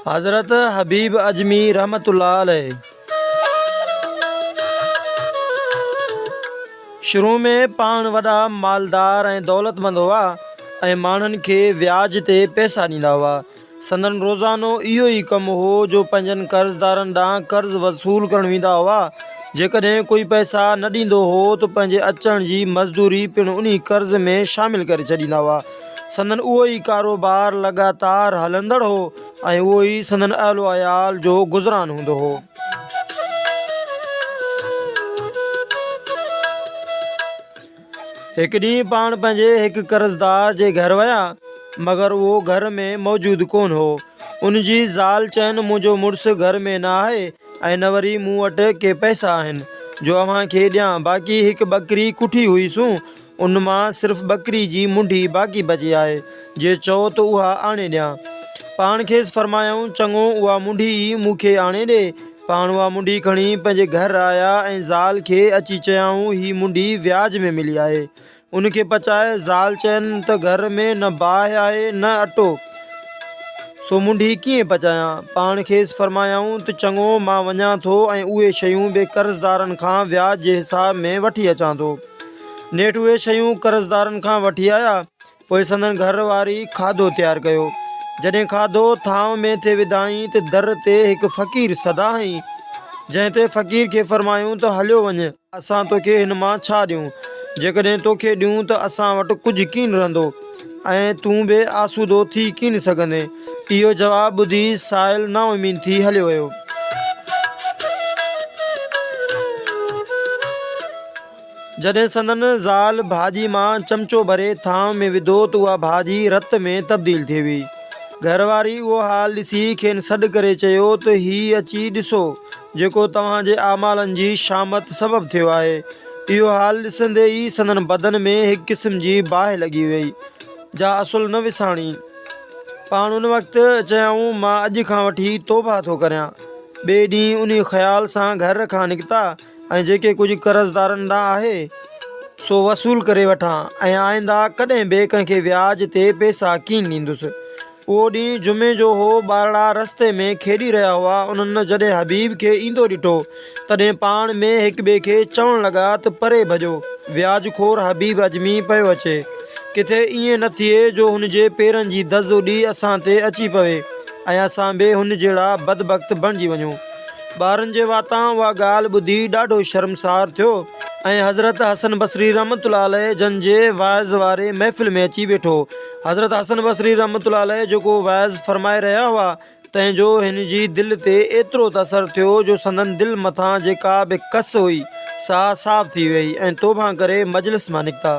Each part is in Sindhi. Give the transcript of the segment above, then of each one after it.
حضرت حبيب اجمي رحمت الله عليه شروع ۾ پاڻ وڏا مالدار ۽ دولتمند هئا ۽ ماڻهن کي وياج تي پئسا ڏيندا هئا سندن روزانو اهو ئي ڪم هو جو پنهنجن قرضدارن ڏانهن قرض وصول ڪرڻ ويندا هئا. جيڪڏهن ڪوئي پئسا نه ڏيندو هو ته پنهنجي اچڻ جي مزدوري پڻ انهي قرض ۾ شامل ڪري ڇڏيندا هئا. سندن اهو ئي ڪاروبار لڳاتار هلندڙ هو ۽ اهو ئي سندن اهل و عيال جو گذران هوندو هو. هڪ ڏينهن پاڻ پنهنجي هڪ قرضدار جي گهر ويا، مگر اهو گهر ۾ موجود ڪونه هو. ان جي زال چين، منهنجو مڙس گهر ۾ نه آهي ۽ نه وري مون وٽ ڪي پئسا آهن، جو اوهان کي ڏيان، باقي هڪ ٻڪري ڪٺي هئي سون، ان مان صرف ٻڪري جي منڍي باقي بچي آهي، جي چئو ته اها آڻي ڏيان. پاڻ کيس فرمايائون، چڱو، اها منڍي ئي مون کي آڻي ڏي، پاڻ اها منڊي کڻي پنهنجي گهر آيا ۽ زال کي اچي چيائون هي منڊي وياج ۾ ملي آهي ان کي پچائي زال چين ته گهر ۾ نه باهه آهي نه اٽو سو منڊي ڪيئن پچايان پاڻ کيس فرمايائون ته چڱو مان وڃان ٿو ۽ اهي شيون به قرضدارن کان وياج جي حساب ۾ وٺي اچان ٿو نيٺ اهي شيون قرضدارن کان وٺي آيا پوء سندن گهر واري کاڌو تيار ڪيو. جڏهن کاڌو ٿانء ۾ تي وڌائين ته در تي هڪ فقير سدا هنئي، جنهن تي فقير کي فرمايون ته هليو وڃ، اسان توکي هن مان ڇا ڏيون؟ جيڪڏهن توکي ڏيون ته اسان وٽ ڪجهه ڪين رهندو ۽ تون بي آسودو ٿي ڪين سگهندين. اهو جواب ٻڌي سائل نااميد ٿي هليو ويو. جڏهن سندن زال ڀاڄي مان چمچو ڀري ٿانو ۾ وڌو ته اها ڀاڄي رت ۾ تبديل ٿي هئي. گهر واري اهو حال ڏسي کين سڏ ڪري چيو ته هي اچي ڏسو جيڪو توهان جي اعمالن جي شامت سبب ٿيو آهي. اهو حال ڏسندي ئي سندن بدن ۾ هڪ قسم جي باهه لڳي ويئي جا اصل نه وساڻي. پاڻ ان وقت چيائون مان اڄ کان وٺي توبهه ٿو ڪريان. ٻئي ڏينهن انهي خيال سان گهر کان نڪتا. ۽ جيڪي ڪجهه قرضدارن ڏانهن آهي سو وصول ڪري وٺان ۽ آئنده ڪڏهن به ڪنهن کي وياج تي پئسا ڪين ڏيندس. اهو ڏينهن جمعي جو هو، ٻارڙا رستي ۾ کيڏي رهيا هئا، انهن جڏهن حبيب کي ايندو ڏٺو، تڏهن پاڻ ۾ هڪٻئي کي چوڻ لڳا ته پري ڀڄو، وياج خور حبيب اجمي پيو اچي، ڪٿي ائين نه ٿئي جو هن جي پيرن جي دز اڏي اسان تي اچي پوي ۽ اسان به هن جهڙا بدبخت بڻجي وڃون. ٻارن جي واتان اها ڳالهه ٻڌي ڏاڍو شرمسار ٿيو ۽ حضرت حسن بصري رحمة الله عليه جن جي وعظ واري محفل ۾ اچي ويٺو. حضرت حسن بصري رحمة الله عليه جيڪو وعظ فرمائي رهيا هئا، تنهن جو هن جي دل تي ايترو ته اثر ٿيو جو سندن دل مٿان جيڪا به ڪس هئي، سا صاف ٿي ويئي ۽ توبهان ڪري مجلس مان نڪتا.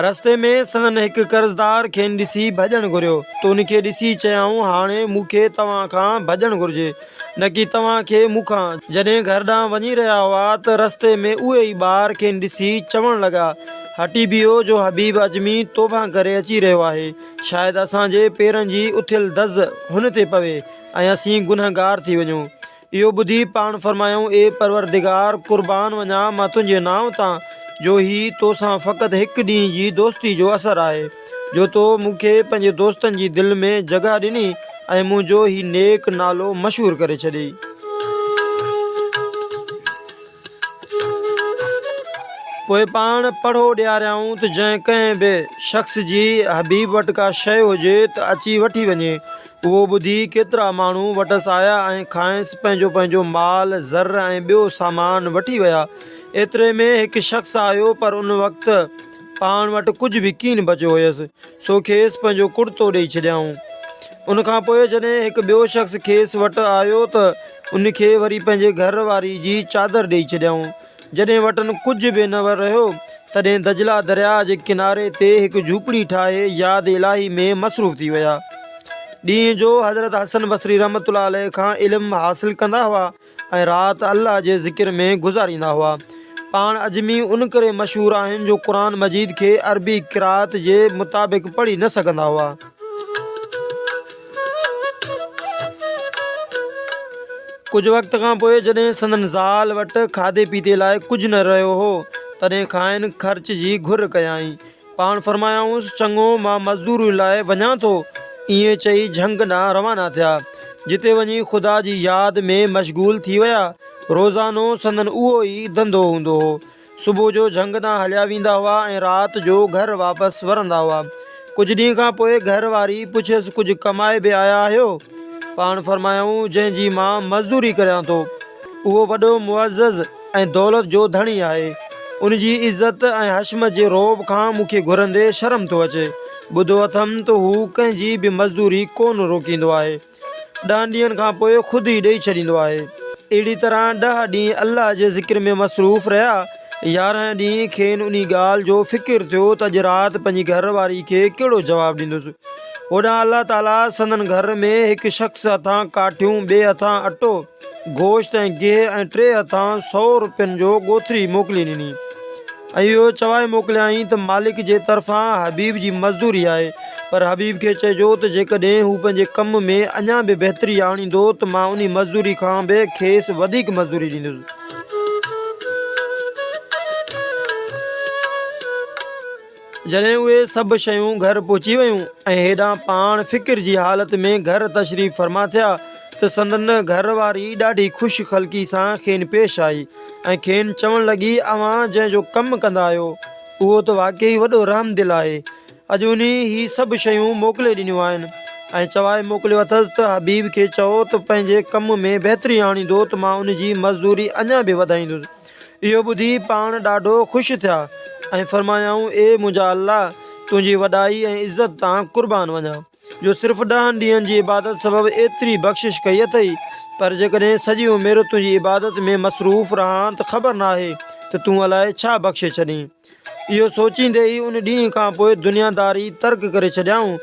رستي ۾ سندن هڪ قرضدار کين ڏسي ڀڄڻ گهريو ته ان کي ڏسي چيائون هاڻي مون کي توهان کان ڀڄڻ گهرجي نه ڪي توهان کي مون کان. جڏهن گهر ڏانهن وڃي رهيا هئا ته رستي ۾ اهي ئي ٻار کين ڏسي چوڻ لڳا هٽي بيهو جو حبيب اجمي توبهان ڪري اچي رهيو آهي شايد اسان جي پيرن جي اٿيل دز هن تي پوي ۽ اسين گنهگار ٿي وڃون. اهو ٻڌي پاڻ فرمايائون، اي پروردگار! قربان وڃان مان تنهنجي نانء تان، جو هي تو سان فقط هڪ ڏينهن جي دوستي جو اثر آهي، جو تو مون کي پنهنجي دوستن جي دل ۾ جڳهه ڏني ۽ منهنجو هي نيڪ نالو مشهور ڪري ڇڏيئي. پوء پاڻ پڙهو ڏياريائون ته جنهن ڪنهن به شخص جي حبيب وٽ ڪا شيء هجي ته اچي وٺي وڃي، اهو ٻڌي ڪيترا ماڻهو وٽس آيا ۽ کانئس پنهنجو پنهنجو مال، زر ۽ ٻيو سامان وٺي ويا. ايتري ۾ هڪ شخص آيو پر ان وقت پاڻ وٽ ڪجهه به ڪين بچيو هيس، سو کيس پنهنجو ڪڙتو ڏيئي ڇڏيائون. ان کان پوء جڏهن هڪ ٻيو شخص کيس وٽ آيو ته ان کي وري پنهنجي گهر واري جي چادر ڏيئي ڇڏيائون. جڏهن وٽن ڪجهه به نه رهيو، تڏهن دجله درياء جي ڪناري تي هڪ جهوپڙي ٺاهي ياد الاهي ۾ مصروف ٿي ويا. ڏينهن جو حضرت حسن بصري رحمة الله عليه کان علم حاصل ڪندا هئا ۽ رات الله جي ذڪر ۾ گذاريندا هئا. پاڻ عجمي ان ڪري مشهور آهن جو قرآن مجيد کي عربي قرائت جي مطابق پڙهي نه سگهندا هئا. ڪجهه وقت کان پوء جڏهن سندن زال وٽ کاڌي پيتي لاء ڪجهه نه رهيو هو، تڏهن کانئن خرچ جي گهر ڪيائين. پاڻ فرمايائونس، چڱو، مان مزدوريء لاء وڃان ٿو. ائين چئي جهنگ ڏانهن روانا ٿيا، جتي وڃي خدا جي ياد ۾ مشغول ٿي ويا. روزانو سندن اهو ئي ڌنڌو هوندو هو. صبح جو جهنگ تان هليا ويندا هئا ۽ رات جو گهر واپس ورندا هئا. ڪجهه ڏينهن کان پوء گهر واري پڇيس ڪجهه ڪمائي به آيا آهيو؟ پاڻ فرمايائون جنهن جي مان مزدوري ڪريان ٿو اهو وڏو معزز ۽ دولت جو ڌڻي آهي. ان جي عزت ۽ حشمت جي رعب کان مون کي گهرندي شرم ٿو اچي. ٻڌو اٿم ته هو ڪنهن جي به مزدوري ڪونه روڪيندو آهي. ڏهن ڏينهن کان پوء خود ئي ڏئي ڇڏيندو آهي. اهڙي طرح ڏهه ڏينهن الله جي ذڪر ۾ مصروف رهيا. يارهن ڏينهن کين انهي ڳالهه جو فڪر ٿيو ته اڄ رات پنهنجي گهر واري کي ڪهڙو جواب ڏيندس. هوڏانهن الله تعاليٰ سندن گهر ۾ هڪ شخص هٿان ڪاٺيون ٻئي هٿان اٽو، گوشت ۽ گيهه ۽ ٽي هٿان سؤ روپين جو ڳوٿري موڪلي ڏني ۽ اهو چوائي موڪليائين ته مالڪ جي طرفان حبيب جي مزدوري آهي پر حبيب کي چئجو ته جيڪڏهن هو پنهنجي ڪم ۾ اڃا به بهتري آڻيندو ته مان انهي مزدوري کان به کيس وڌيڪ مزدوري ڏيندس. جڏهن اهي سڀ شيون گهر پهچي ويون ۽ هيڏانهن پاڻ فڪر جي حالت ۾ گهر تشريف فرما ٿيا ته سندن گهر واري ڏاڍي خوش خلقي سان کين پيش آئي ۽ کين چوڻ لڳي اوهان جنهن جو ڪم ڪندا آهيو اهو ته واقعي وڏو رحمدل آهي اڄ انهي هي سڀ شيون موڪلي ڏنيون آهن ۽ چوائي موڪليو اٿس ته حبيب کي چئو ته پنهنجي ڪم ۾ بهتري آڻيندو ته مان ان جي مزدوري اڃا به وڌائيندس اهو ٻڌي پاڻ ڏاڍو خوش ٿيا ۽ فرمايائون اي منهنجا الله! تنهنجي وڏائي ۽ عزت تان قربان وڃان جو صرف ڏهن ڏينهن جي عبادت سبب ايتري بخشش ڪئي اٿئي، پر جيڪڏهن سڄي عمر تنهنجي عبادت ۾ مصروف رهان ته خبر ناهي ته تون الائي ڇا بخشي ڇڏين. اهو سوچيندي ئي ان ڏينهن کان پوء دنياداري ترڪ ڪري ڇڏيائون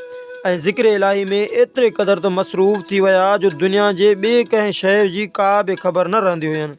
۽ ذڪر الاهي ۾ ايتري قدر ته مصروف ٿي ويا جو دنيا جي ٻي ڪنهن شيء جي ڪا به خبر نه رهندي هين.